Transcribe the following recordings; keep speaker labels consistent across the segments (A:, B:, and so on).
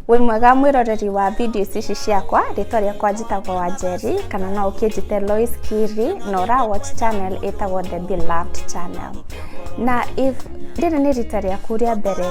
A: Wĩ mwega mwĩroreri wa videos ici ciakwa, rĩtwa rĩakwa njĩtagwo Wanjeri, kana no ũkĩnjĩte Lois Kiri, na ũra watch channel ĩtagwo The Beloved Channel. Na if rĩrĩ nĩ rita rĩaku rĩa mbere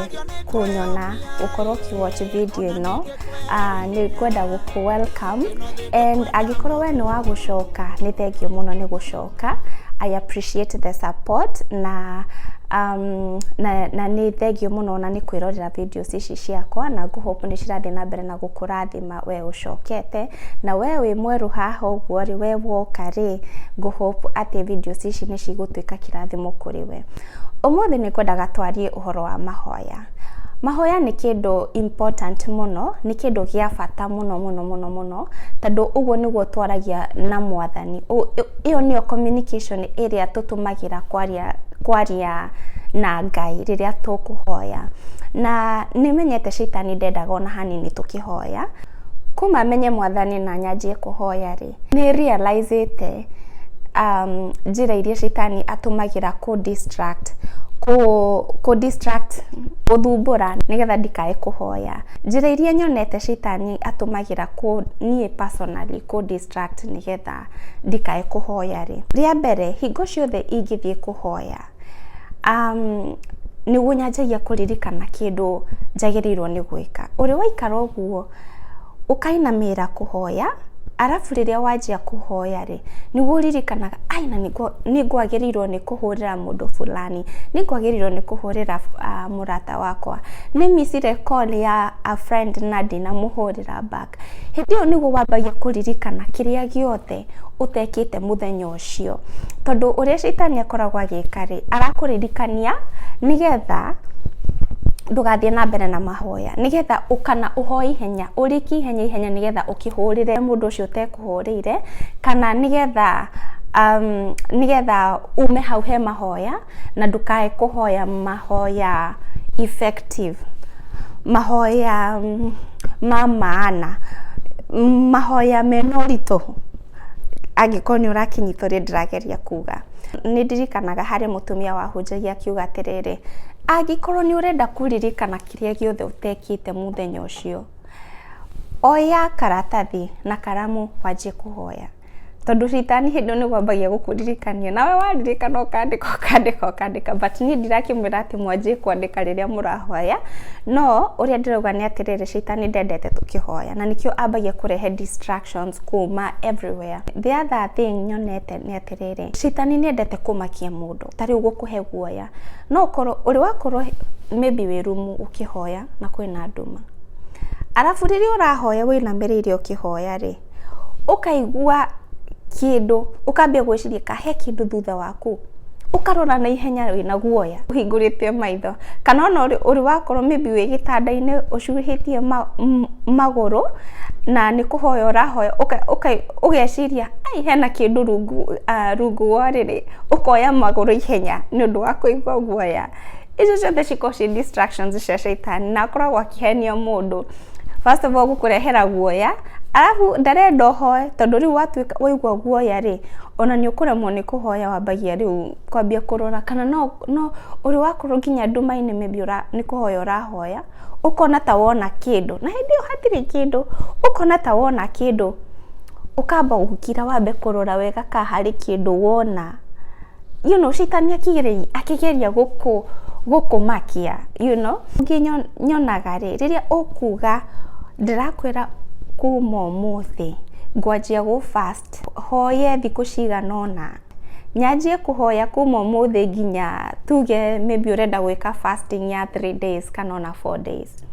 A: kũnyona gũkorwo ũkĩ watch video ĩno, ah, nĩ ngwenda gũkũ welcome and angĩkorwo we nĩ wa gũcoka nĩ thengiũ mũno nĩ gũcoka. I appreciate the support na um, na, na nĩ thengiũ mũno na nĩ kwĩrorera video videos ici ciakwa na ngũ hope nĩ cirathiĩ na mbere na gũkũrathima we ũcokete na we wĩ mwerũ haha ũguo rĩ we woka rĩ ngũ hope atĩ videos ici nĩ cigũtuĩka kĩrathimo kũrĩ we ũmũthĩ nĩ kwendaga twarie ũhoro wa mahoya mahoya nĩ kĩndũ important mũno nĩ kĩndũ gĩa bata mũno mũno mũno mũno tondũ ũguo nĩguo twaragia na mwathani. Ĩyo nĩyo communication ĩrĩa tũtũmagĩra kwaria kwaria na Ngai rĩrĩa tũkũhoya. Na nĩ menyete caitani ndendaga ona hanini tũkĩhoya. Kuma menye mwathani na nyanjie kũhoya rĩ, nĩ realise ĩte njĩra iria caitani atũmagĩra kũ distract kũ distract gũthumbũra nĩgetha ndikae kũhoya. Njĩra iria nyonete caitani Nĩ atũmagĩra niĩ personally kũ distract nĩgetha ndikae kũhoya rĩ, rĩa mbere hingo ciothe ingĩthiĩ kũhoya nĩguo nyanjagia kũririkana kĩndũ njagĩrĩirwo nĩ gwĩka. Ũrĩ waikara ũguo ũkainamĩrĩra kũhoya arabu rĩrĩa wanjia kũhoya rĩ, nĩguo ũririkanaga ai na nĩ ngwagĩrĩirwo nĩ kũhũrĩra mũndũ fulani, nĩ ngwagĩrĩirwo nĩ kũhũrĩra mũndũ fulani. mũrata wakwa. Nĩ micire call ya a friend na ndinamũhũrĩra back. Hĩndĩ ĩyo nĩguo wambagia kũririkana kĩrĩa gĩothe ũtekĩte mũthenya ũcio. Tondũ ũrĩa caitani akoragwo agĩka rĩ, arakũririkania nĩgetha ndũgathiĩ na mbere na mahoya. Nĩgetha kana ũhoe ihenya, ũrĩkie ihenya ihenya nĩgetha ũkĩhũrĩre mũndũ ũcio ũtekũhũrĩire, kana nĩgetha nĩgetha ume hau he mahoya. na ndũkae kũhoya mahoya effective, mahoya ma maana, mahoya mena ũritũ angĩkorwo nĩ ũrakĩnyita ũrĩa ndĩrageria kuga. Nĩ ndirikanaga harĩ mũtumia wahunjagia akiuga atĩrĩrĩ, angĩkorwo nĩ ũrenda kũririkana kĩrĩa gĩothe ũtekĩte mũthenya ũcio, oya karatathi na karamu wanjie kũhoya. Tondũ rita niĩ hĩndĩ ĩyo nĩ kwambagia gũkũririkania, nawe waririkana ũkandĩka ũkandĩka ũkandĩka, but niĩ ndirakĩmwĩra atĩ mwanjie kwandĩka rĩrĩa mũrahoya, no ũrĩa ndĩrauga nĩ atĩrĩrĩ, caitani ndendete tũkĩhoya, na nĩkĩo ambagia kũrehe distractions kuuma everywhere. The other thing nyonete nĩ atĩrĩrĩ, caitani nĩ endete kũmakia mũndũ, ta rĩu gũkũhe guoya, no ũkorwo, ũrĩ wakorwo maybe wĩ rumu ũkĩhoya na kwĩna nduma, arabu rĩrĩa ũrahoya wĩinamĩrĩire ũkĩhoya rĩ. ũkaigua kĩndũ ũkambia gwĩciria kana he kĩndũ thutha waku, ũkarora na ihenya wĩna guoya ũhingũrĩte maitho, kana ona ũrĩ wakorwo maybe wĩ gĩtanda-inĩ ũcuhĩtie magũrũ na nĩ kũhoya ũrahoya ũgeciria aai hena kĩndũ rungu wa rĩrĩ, ũkoya magũrũ ihenya nĩ ũndũ wa kũigua guoya. icio ciothe cikorwo ciĩ distractions cia shaitani na akoragwo akĩhenia mũndũ first of all gũkũrehera guoya arabu ndarenda ũhoe tondũ rĩu watuĩka waigua guoya rĩ ona nĩ ũkũremwo nĩ kũhoya wambagia rĩu kwambia kũrora kana no, no ũrĩ wakorwo nginya nduma-inĩ maybe ũra, nĩ kũhoya ũrahoya ũkona ta wona kĩndũ na hĩndĩ ĩyo hatirĩ kĩndũ ũkona ta wona kĩndũ ũkamba gũkira wambe kũrora wega ka harĩ kĩndũ wona you know shaitani akĩgeria akĩgeria gũkũ gũkũmakia you know ningĩ nyo- nyonaga rĩ rĩrĩa ũkuga ndĩrakwĩra kuma ũmũthĩ ngwanjia gũ fast hoye thikũ cigana ũna nyanjie kũhoya kuma ũmũthĩ nginya tuge maybe ũrenda gwĩka fasting ya three days kana ona four days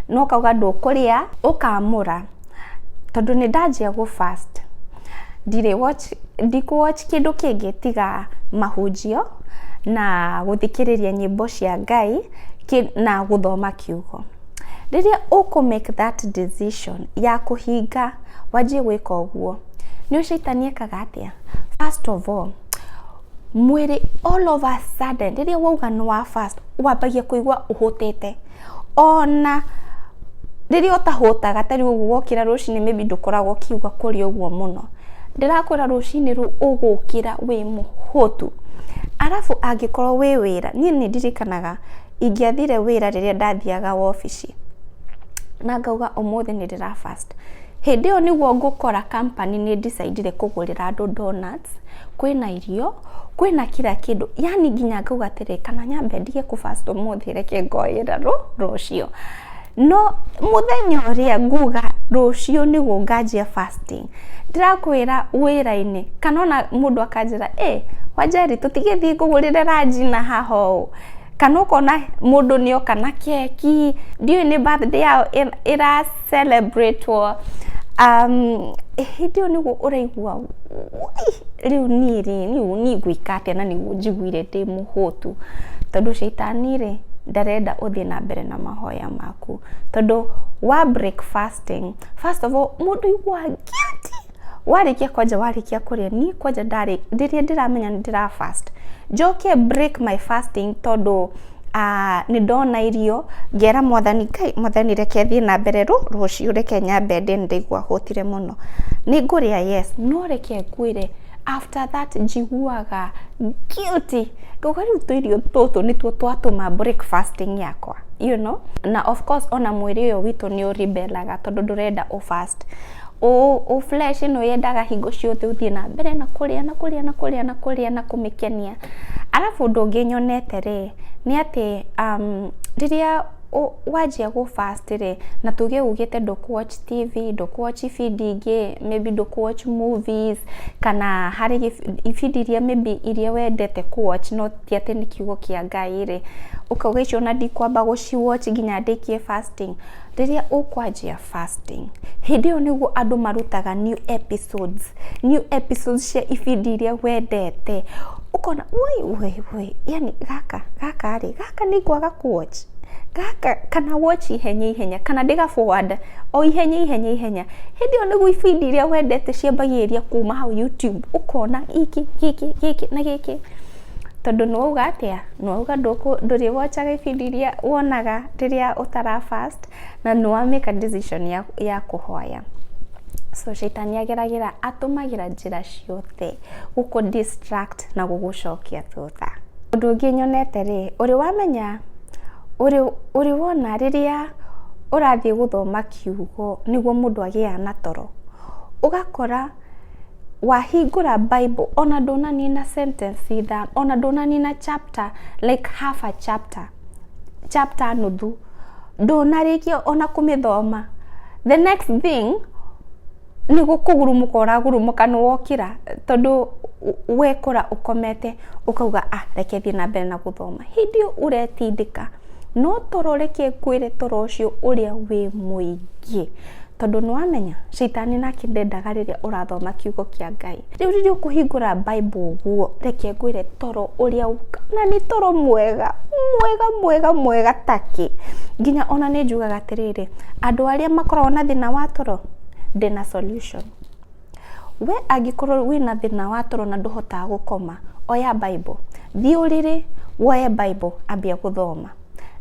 A: na ũkauga ndũkũrĩa, ũkamũra, tondũ nĩ ndanjia gũ fast ndirĩ watch ndikũ watch kĩndũ kĩngĩ tiga mahunjio na gũthikĩrĩria nyĩmbo cia Ngai na gũthoma kiugo. Rĩrĩa ũkũ make that decision ya kũhinga wanjie gwĩka ũguo, nĩ ũĩ caitani ekaga atĩa? First of all, mwĩrĩ all of a sudden rĩrĩa wauga nĩ wa fast wambagia kũigua ũhũtĩte. Ona rĩrĩa ũtahũtaga ta rĩu ũguo wokĩra rũcinĩ maybe ndũkoragwo ũkiuga kũrĩa ũguo mũno, ndĩrakwĩra rũcinĩ rũu ũgũkĩra wĩ mũhũtu. Arabu angĩkorwo wĩ wĩra, niĩ nĩ ndirikanaga ingĩathire wĩra rĩrĩa ndathiaga wobici na ngauga ũmũthĩ nĩ ndĩra fast, hĩndĩ ĩyo nĩguo ngũkora company nĩ ĩ decide ire kũgũrĩra andũ donuts. breakfast, kwĩna irio, kwĩna kira kĩndũ, yaani nginya ngauga atĩrĩ kana nyambe ndige kũ fast ũmũthĩ reke ngoyera rũciũ. No mũthenya ũrĩa nguga rũciũ nĩguo nganjia fasting, ndĩrakwĩra wĩra-inĩ kana ona mũndũ akanjĩra ĩ Wanjeri tũtigĩthiĩ ngũgũrĩre ranji na haha ũũ, kana ũkona mũndũ nĩ oka na keki, ndiũĩ nĩ birthday yao ĩra... celebrate wo um, hĩndĩ ĩyo nĩguo ũraigua rĩu niĩ rĩ rĩu niĩ ngũika atĩa na nĩguo njiguire ndĩ mũhũtu tondũ caitani rĩ ndarenda ũthiĩ na mbere na mahoya maku tondũ wa break fasting first of all mũndũ aiguaga guilty warĩkia kwanja warĩkia kũrĩa niĩ kwanja ndarĩ rĩrĩa ndĩramenya nĩ ndĩra fast njoke break my fasting tondũ ah, nĩ ndona irio ngera mwathani ngai mwathani reke thiĩ na mbere rũ rũciũ reke nyambe ndĩ nĩ ndaigua hũtire mũno nĩ ngũrĩa yes no reke ngwĩre after that njiguaga guilty ngoga rĩu tũirio tũtũ nĩtuo twatũma break fasting yakwa you know na of course ona mwĩrĩ ũyũ witũ nĩ ũribelaga tondũ ndũrenda ũ fast Ũ flesh ĩno yendaga hingo ciothe ũthiĩ na mbere na kũrĩa na kũrĩa na kũrĩa na kũrĩa na kũmĩkenia. Arabu ũndũ ũngĩ nyonete rĩ, nĩ atĩ rĩrĩa wanjia gũ fast rĩ, na tuge ugĩte ndũkũ watch TV, ndũkũ watch ibindi ingĩ, maybe ndũkũ watch movies, kana harĩ ibindi iria maybe iria wendete kũ watch no ti atĩ nĩ kiugo kĩa Ngai rĩ, ũkauga icio ona ndikwamba gũci watch nginya ndĩkie fasting. Rĩrĩa ũkwanjia... fasting. Hĩndĩ ĩyo nĩguo andũ marutaga new episodes, new episodes cia ibindi iria wendete. Ũkona woi woi woi, yani gaka gaka rĩ, gaka nĩ ngwaga kũ watch, gaka kana watch ihenya ihenya, kana ndĩ ga forward o ihenya ihenya ihenya. Hĩndĩ ĩyo nĩguo ibindi iria wendete ciambagĩrĩria kuma hau YouTube, ũkona gĩkĩ gĩkĩ gĩkĩ na gĩkĩ. Tondũ nĩ wauga atĩa? Nĩ wauga ndũrĩwatchaga ibindi iria wonaga rĩrĩa ũtara fast. Na nĩ wa make a decision ya, ya kũhoya. So caitani ageragĩra, atũmagĩra njĩra ciothe gũkũ distract na gũgũcokia thutha. Ũndũ ũngĩ nyonete rĩ, ũrĩ wamenya, ũrĩ, ũrĩ wona rĩrĩa ũrathiĩ gũthoma kiugo nĩguo mũndũ agĩaga na toro, ũgakora wahingũra Bible ona ndũnanina sentence ithano, ona ndũnanina chapter, like half a chapter. chapter nuthu ndũnarĩkia ona kũmĩthoma the next thing nĩ kũgurumũka ũragurumũka nĩ wokĩra tondũ wekora ũkomete ũkauga ah reke thiĩ na mbere na gũthoma hĩndĩ ĩyo ũretindĩka no toro reke ngwĩre toro ũcio ũrĩa wĩ mũingĩ. Tondũ nĩ wamenya caitani nake ndendaga rĩrĩa ũrathoma kiugo kĩa Ngai. Rĩu rĩrĩa ũkũhingũra Bible ũguo, reke ngwĩre toro ũrĩa na nĩ toro mwega mwega mwega mwega ta kĩ. Nginya ona nĩ njugaga atĩrĩrĩ, andũ arĩa makoragwo na thĩna wa toro ndĩna solution. We angĩkorwo wĩna thĩna wa toro na ndũhotaga gũkoma, oya Bible, thiĩ ũrĩrĩ woe Bible ambia gũthoma.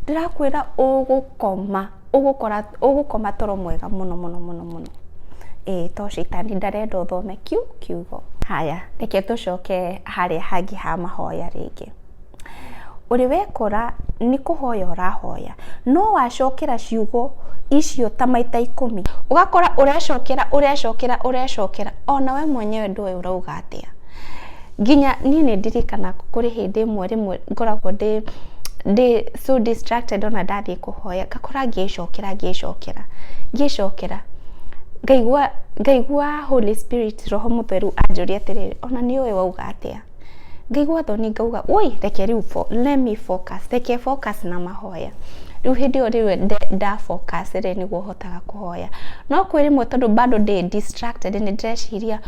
A: Ndĩrakwĩra ũgũkoma, ũgũkora, ũgũkoma toro mwega mũno mũno mũno mũno. Ĩĩ to caitani ndarenda ũthome kiu kiugo. Haya reke tũcoke harĩa hangĩ ha mahoya rĩngĩ. Ũrĩ wekora nĩ kũhoya ũrahoya, no wacokera ciugo icio ta maita ikũmi, ũgakora ũrecokera, ũrecokera, ũrecokera, ona we mwenyewe ndũĩ ũrauga atĩa. Nginya niĩ nĩ ndirikanaga kũrĩ hĩndĩ ĩmwe rĩmwe ngoragwo ndĩ ndĩ so distracted ona ndathiĩ kũhoya, ngakora ngĩĩcokera, ngĩĩcokera, ngĩĩcokera, ngaigua ngaigua Holy Spirit, Roho Mũtheru anjũria atĩrĩrĩ, ona nĩ ũĩ wauga atĩa? ngaigua thoni ngauga woi reke rĩu let me focus reke focus na mahoya rĩu hĩndĩ ĩyo rĩu nda focus rĩ nĩguo hotaga kũhoya no kwĩ rĩmwe tondũ bado ndĩ distracted nĩ ndĩreciria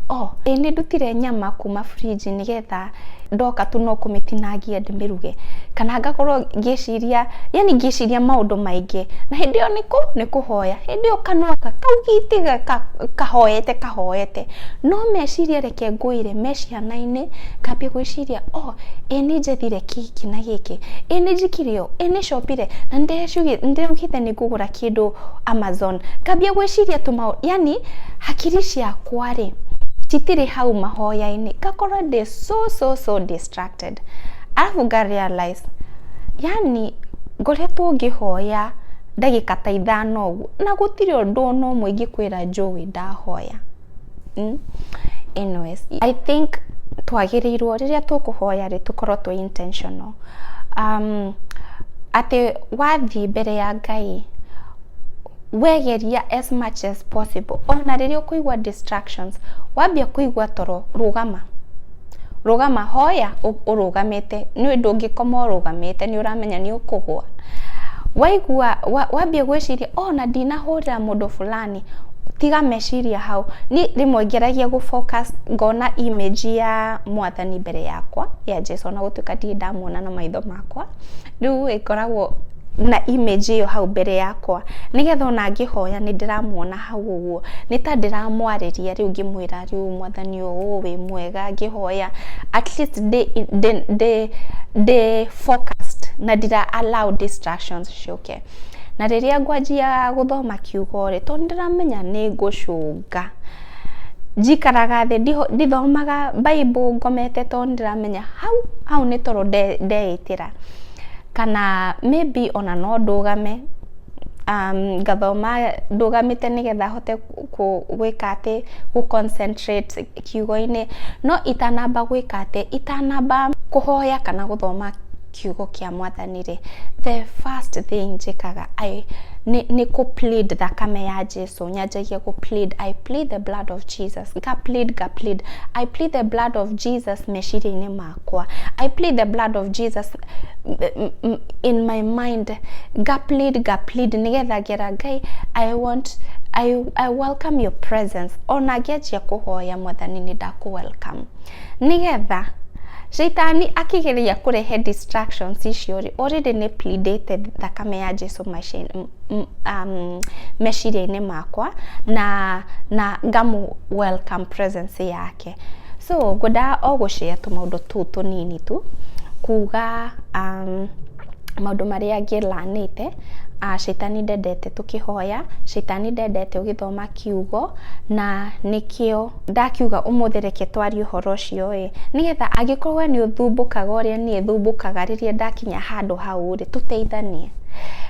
A: oh ĩ nĩ ndutire nyama kuma fridge nĩgetha ndoka tu no kũmĩtinangia ndĩmĩruge kana ngakorwo ngĩciria yani ngĩciria maũndũ maingĩ na hĩndĩ ĩyo nĩkũ nĩ kũhoya hĩndĩ ĩyo kanua kaugite kahoete kahoete no meciria reke ngũire me ciana-inĩ ngambia gwĩciria oh ĩ nĩ njethire gĩkĩ na gĩkĩ, ĩ nĩ njĩkire ũũ, ĩ nĩ copire, na nĩ ndaugĩte nĩ ngũgũra kĩndũ Amazon. Ngambia gwĩciria tũmaũndũ yaani hakiri ciakwa rĩ citirĩ hau mahoya-inĩ ngakorwo ndĩ so so so distracted. Arabu nga realise yaani ngoretwo ngĩhoya ndagĩka ta ithano ũguo na gũtirĩ ũndũ ona ũmwe ingĩkwĩra njũĩ ndahoya. Anyways, I think twagĩrĩirwo rĩrĩa tũkũhoya rĩ tũkorwo twĩ intentional. Atĩ wathiĩ mbere ya Ngai we geria as much as possible ona rĩrĩa ũkũigua distractions, wambia kũigua toro rũgama. Rũgama, hoya ũrũgamĩte nĩ ũndũ ũngĩkoma ũrũgamĩte nĩ ũramenya nĩ ũkũgwa. Waigua, wambia gwĩciria ona ndinahũrĩra mũndũ fulani. thani. Tiga meciria hau, niĩ rĩmwe ngeragia gũ focus ngona image ya mwathani mbere yakwa, ya Jesũ ona gũtuĩka ndirĩ ndamuona na maitho makwa, rĩu ĩ ngoragwo na image ĩyo hau mbere yakwa, nĩgetha ona ngĩhoya nĩ ndĩramuona hau ũguo, nĩ ta ndĩramwarĩria rĩu ngĩmwĩra rĩu mwathani ũũ wĩ mwega ngĩhoya, at least ndĩ ndĩ ndĩ focused na ndira allow distractions ciũke. yake. Na rĩrĩa ngwanjia gũthoma kiugo rĩ, tondũ nĩ ndĩramenya nĩ ngũcũnga, njikaraga thĩ ndithomaga Bible ngomete tondũ nĩ ndĩramenya hau, hau nĩ toro ndeĩtĩra. Kana maybe ona no ndũgame, ngathoma ndũgamĩte nĩgetha hote gwĩka atĩ, gũ concentrate. kiugo-inĩ, no itanamba gwĩka atĩ, itanamba kũhoya kana gũthoma kiugo kĩa mwathani rĩ, the first thing njĩkaga nĩ kũ plead thakame ya Jesũ, nyanjagia gũ plead, I plead the blood of Jesus, nga plead, nga plead, I plead the blood of Jesus meciria-inĩ makwa. kwa i plead the blood of jesus m- m- m- in my mind ngaplead ngaplead nigetha ngera ngai i want I, I welcome your presence ona ngĩanjia kũhoya mwathani nĩ ndakũ welcome nigetha shaitani akĩgeria kũrehe distractions icio rĩ already nĩ pleadĩte thakame ya jesu maci- m- m- um, meciria-inĩ makwa na na ngamu welcome presence yake So ngwendaga o gũ share tũmaũndũ tũu tũnini tu, kuga maũndũ marĩa ngĩ learn ĩte, Caitani ndendete tũkĩhoya, Caitani ndendete ũgĩthoma kiugo, na nĩkĩo ndakiuga ũmũthĩ reke twarie ũhoro ũcio ĩ, nĩgetha angĩkorwo we nĩ ũthumbũkaga ũrĩa niĩ thumbũkaga rĩrĩa ndakinya handũ hau rĩ, tũteithanie.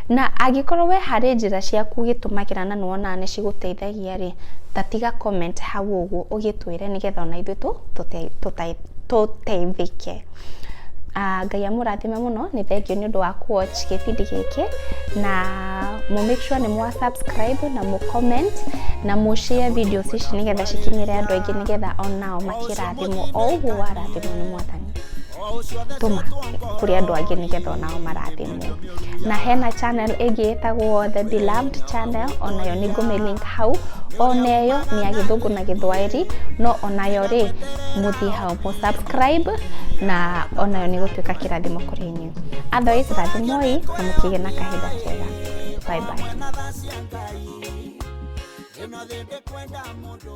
A: Na angĩkorwo we harĩ njĩra ciaku ũgĩtũmagĩra na nĩ wonaga nĩ cigũteithagia. ũngĩteithia rĩ, ta tiga comment hau ũguo ũgĩtwĩre nĩgetha ona ithuĩ tũteithĩke. Ngai amũrathime mũno, nĩ thengiũ nĩ ũndũ wa kũ watch gĩbindi gĩkĩ na mũ make sure nĩ mwa subscribe na mũ comment na mũ share videos ici nĩgetha cikinyĩre andũ aingĩ nĩgetha onao makĩrathimwo o ũguo warathimwo nĩ Mwathani. Tũma kũrĩ andũ angĩ nĩgetha onao marathimwo. na hena channel ĩngĩ ĩtagwo the beloved channel onayo nĩ ngũmĩlink hau oneyo nĩ ya gĩthũngũ na gĩthwaĩri no onayo rĩ mũthiĩ hau mũ subscribe na onayo nĩ gũtuĩka kĩrathimo kũrĩ inyuĩ otherwise rathimoi na mũkĩgĩa na kahinda kega bye bye ĩno thĩ ndĩkwenda mũndũ